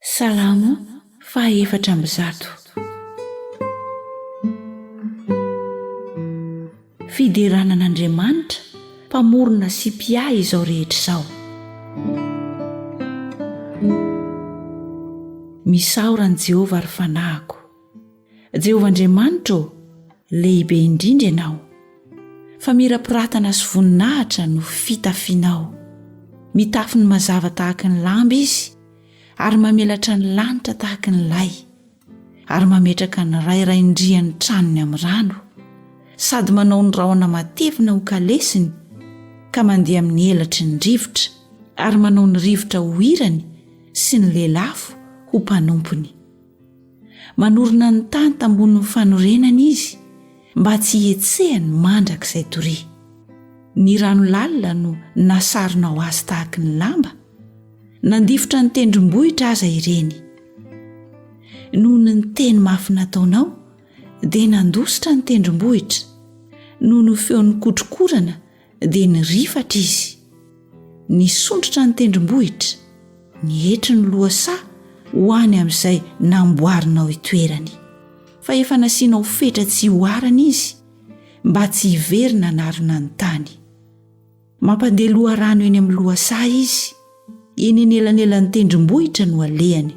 Salamo faha efatra amby zato. Fiderana an'Andriamanitra mpamorona sy mpiahy izao rehetra izao. Misaora an'i Jehovah ry fanahiko. Jehovah Andriamanitra ô, lehibe indrindra ianao. Famirapiratana sy voninahitra no fitafianao. Mitafy ny mazava tahaka ny lamba izy ary mamelatra ny lanitra tahaka ny lay, ary mametraka ny rairain-drian'ny tranony amin'ny rano, sady manao ny rahona matevina ho kalesiny ka mandeha amin'ny elatry ny rivotra, ary manao ny rivotra ho hirany sy ny lelafo ho mpanompony. Manorina ny tany tambonin'ny fanorenany izy mba tsy hihetsehany mandrakizay doria. Ny rano lalina no nasaronao azy tahaky ny lamba, nandifotra ny tendrombohitra aza ireny. Noho ny teny mafy nataonao, dia nandositra ny tendrombohitra, noho ny feon'ny kotrokorana dia nirifatra izy nisondrotra ny tendrombohitra ny hetry ny lohasaha ho any amin'izay namboarinao itoerany fa efa nasianao fetra tsy hoharana izy mba tsy hiverina anarina ny tany mampandeha loha rano eny amin'ny lohasaha izy eny en elanelan'ny tendrombohitra no alehany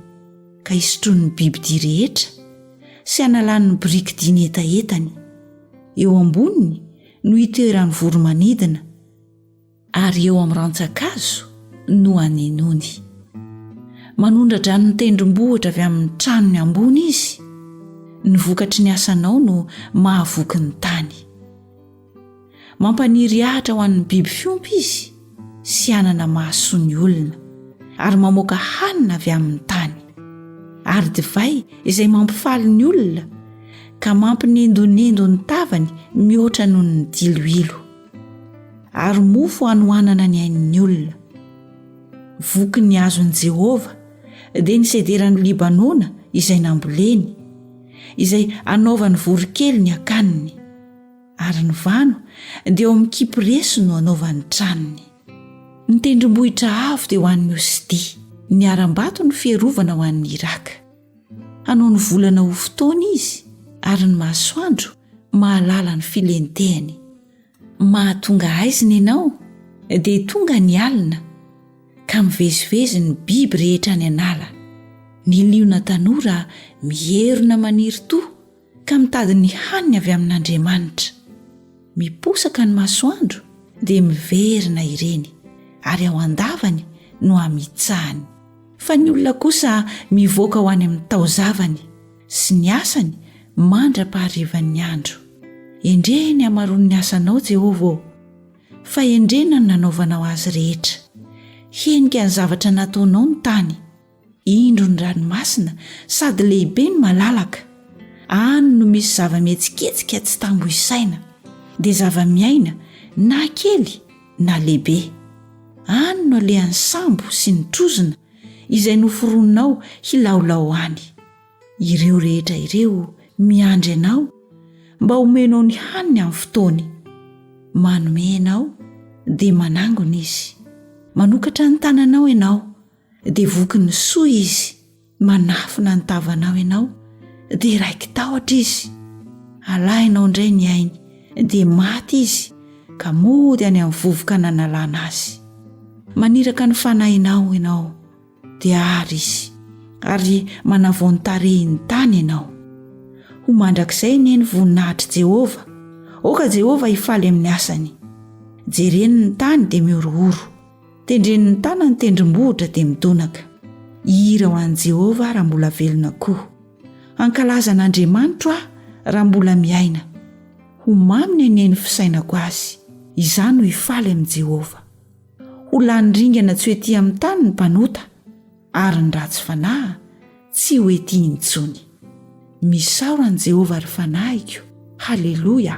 ka isotron'ny bibidi rehetra sy analan'ny biriky diny hetahetany eo amboniny no itoeran'ny voro-manidina, ary eo amin'ny rantsan-kazo no anenony. Manondra-dranon'ny tendrombohitra avy amin'ny tranony ambony izy, ny vokatry ny asanao no mahavoky ny tany. Mampaniry ahitra ho an'ny biby fiompy izy, sy hanana mahasoa ny olona ary mamoaka hanina avy amin'ny tany ary divay izay mampifaly ny olona ka mampinendonendo ny tavany mihoatra noho ny diloilo ary mofo hanohanana ny ain'ny olona voky ny azon'i jehovah dia ny sederan'i libanona izay namboleny izay anaovany voronkely ny akaniny Ary ny vano dia eo amin'ny kipresy no anaovany tranony. Ny tendrombohitra avo dia ho an'ny Osidia, ny harambato ny fiarovana ho an'ny Iraka. Hanao ny volana ho fotoana izy, ary ny masoandro mahalala ny filentehany. Mahatonga haizina ianao, dia tonga ny alina, ka mivezivezy ny biby rehetra any an'ala. Ny liona tanora mierona maniry toa. ka mitady ny haniny avy amin'Andriamanitra. Miposaka ny masoandro dia miverina ireny, ary ao an-davany no amitsahany. Fa ny olona kosa mivoaka ho any amin'ny taozavany sy ny asany mandra-paharivan'ny andro. Endrehy ny hamaroan'ny asanao, Jehovah ô, fa endrena ny nanaovanao azy rehetra. Henika ny zavatra nataonao ny tany. Indro ny ranomasina sady lehibe no malalaka, any no misy zava-mihetsiketsika tsy tambo isaina, dia zava-miaina na kely na lehibe. Any no alehan'ny sambo sy ny trozona izay noforoninao hilaolao any. Ireo rehetra ireo miandry anao mba homenao ny haniny amin'ny fotoany. Manome ianao dia manangona izy. Manokatra ny tananao ianao. dia voky ny soa izy manafina ny tavanao ianao dia raiki-tahotra izy alainao indray ny ainy dia maty izy ka mody any amin'ny vovoka nanalana azy maniraka ny fanahinao ianao dia ary izy ary manavao ny tarehin'ny tany ianao ho mandrakizay ne ny voninahitr'i jehovah oka jehovah hifaly amin'ny asany jereny ny tany dia mihorohoro Tendren'ny tàna ny tendrombohitra dia midonaka. Hihira ho an'i Jehovah aho raha mbola velona koa. Hankalaza an'Andriamanitro aho raha mbola miaina. Ho mamy ny hanen'ny fisainako azy. Izaho no hifaly amin'i Jehovah. Ho lany ringana tsy ho etỳ amin'ny tany ny mpanota. ary ny ratsy fanahy tsy ho etiny intsony misaora an'i jehovah ry fanahiko haleloia